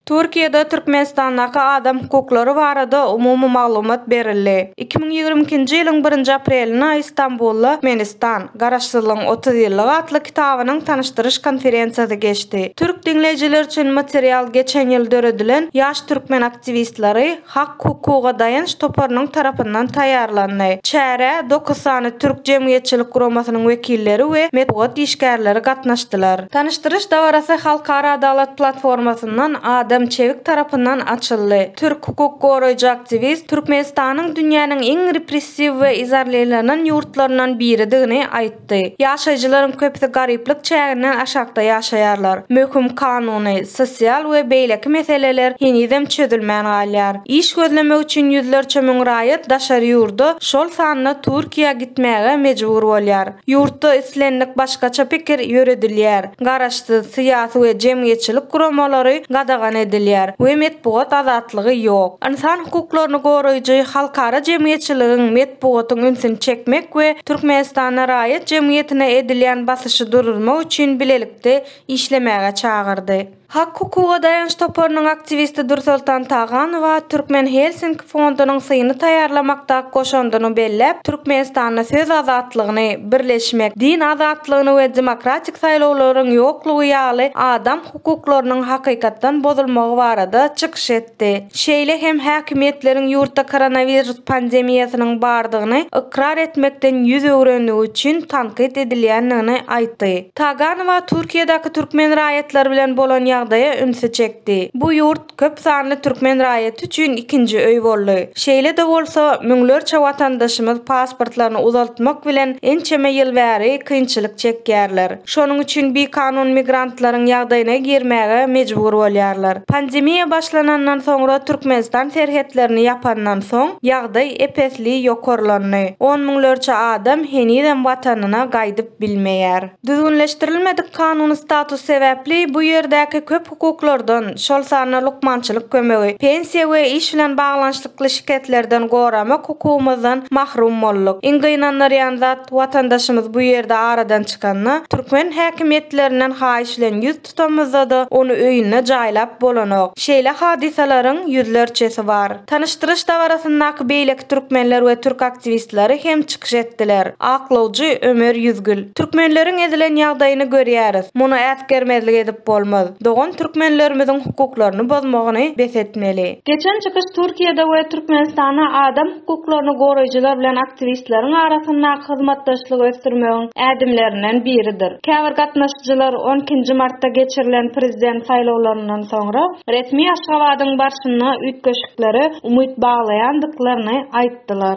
Türkiýede Türkmenistandaky adam hukuklary barada umumy maglumat berildi. Iki müň ýigrimi ikinji ýylyň birinji aprelinde Istanbulda Türkmenistan, Garaşsyzlygyň otuz ýyllygy atly kitabynyň tanyşdyryş konferensiýasy geçdi. Türk diňleýjiler üçin material geçen ýyl döredilen Ýaş türkmen aktiwistleri, Hak-hukuga daýanç toparynyň tarapyndan taýýarlandy. Çärä dokuz sany türk jemgyýetçilik guramasynyň wekilleri we metbugat işgärleri gatnaşdylar. Tanyşdyryş dabarasy Halkara Adalat platformasyndan Adam Çewik tarapyndan açyldy. Türk hukuk goraýjy aktiwist Türkmenistanyň dünýäniň iň repressiw we izarleýlanan ýurtlaryndan biridigini aýtdy. ýaýratdy. Ýaşaýjylaryň köpüsi garyplyk çäginden aşakda ýaşaýarlar. Möhüm kanuny, sosial we beýleki meseleler henizem çözülmän galýar. Iş gözlemek üçin ýüzlerçe müň raýat daşary ýurda, şol sanda Türkiýä gitmäge mejbur bolýar. Ýurtda islendik başgaça pikir ýöredilýär. garaşsyz syýasy we jemgyýetçilik guramalary gadagan edilýär we metbugat azatlygy ýok. Ynsan hukuklaryny goraýjy halkara jemgyýetçiligiň metbugatyň ünsüni çekmek we Türkmenistanda raýat jemgyýetine edilýän basyşy duruzmak üçin bilelikde işlemäge çagyrdy. Hak-hukuga daýanç toparynyň aktiwisti Dürsoltan Taganowa Türkmen Helsinki fondunyň syny taýýarlamakdaky goşandyny belläp, Türkmenistanda söz azatlygyny, birleşmek, din azatlygyny we demokratik saýlawlaryň ýoklugy ýaly adam hukuklarynyň hakykatdan bozulmagy barada çykyş etdi. etdi. Şeýle hem häkimiýetleriň ýurtda koronawirus pandemiýasynyň bardygyny ykrar etmekden ýüz öwrendigi üçin tankyt edilýändigini aýtdy. Taganowa Türkiýedäki türkmen raýatlary bilen bolan ýagdaýa ünsi çekdi. Bu ýurt köp sanly türkmen raýaty üçin ikinji öý boldy. Şeýle-de bolsa, müňlerçe watandaşymyz pasportlaryny uzaltmak bilen ençeme ýyl bäri kynçylyk çekýärler. Şonuň üçin bikanun migrantlaryň ýagdaýyna girmäge mejbur bolýarlar. Pandemiýa başlanandan soňra Türkmenistan serhetlerini ýapandan soň, ýagdaý ep-esli ýokarlandy. On müňlerçe adam henizem watanyna gaýdyp bilmeýär. Düzgünleşdirilmedik kanuny status sebäpli bu ýerdäki köp hukuklardan, şol sanda lukmançylyk kömegi, pensiýa we iş bilen baglanyşykly şikeslerden goramak hukugymyzdan mahrum bolduk. Iň gynandyrýan zat, watandaşymyz bu ýerde aradan çykanda, türkmen häkimiýetlerinden haýyş bilen ýüz tutamyzda-da, ony öýünde jaýlap bolanok. Şeýle hadysalaryň ýüzlerçesi bar. Tanyşdyryş dabarasyndaky beýleki türkmenler we türk aktiwistleri hem çykyş etdiler. Aklawjy Ömer Ýüzgül. Türkmenleriň ezilen ýagdaýyny görýäris. Muny äsgermezlik edip bolmaz. Dogan türkmenlerimiziň hukuklaryny bozmagyny bes etmeli. Geçen çykyş Türkiýede we Türkmenistanda adam hukuklaryny goraýjylar bilen aktiwistleriň arasyndaky hyzmatdaşlygy ösdürmegiň ädimlerinden biridir. Käbir gatnaşyjylar on ikinji martda geçirilen prezident saýlawlaryndan soňra resmi Aşgabadyň barşyna üýtgeşiklere umyt baglaýandyklaryny aýtdylar.